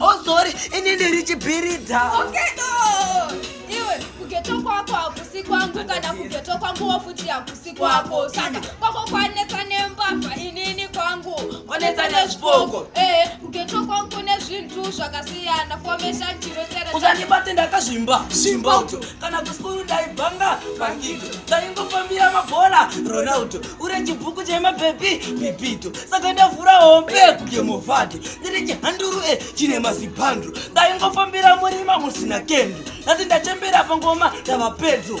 Oh sorry, ini ndiri chipirita. Okay though. Iwe kugeto kwako hakusi kwangu kana kugeto kwangu wofuti hakusi kwako. Saka kwako kwanetsa nembavha inini kwangu. Wanetsa nezvipoko. Eh, kugeto kwangu kune zvinhu zvakasiyana. Formation chiro chere. Usandibate ndakazvimba. Zvimba uto. Kana kusikuru ndaibanga bangito. Ndaingofambira mabhora Ronaldo. Ure chibhuku chema baby Pepito. saka ndavhura hombe kugemofati ndiri chihanduru e chine mazibhandru ndaingofambira murima musina kendu asi ndachembera pangoma ndava pedro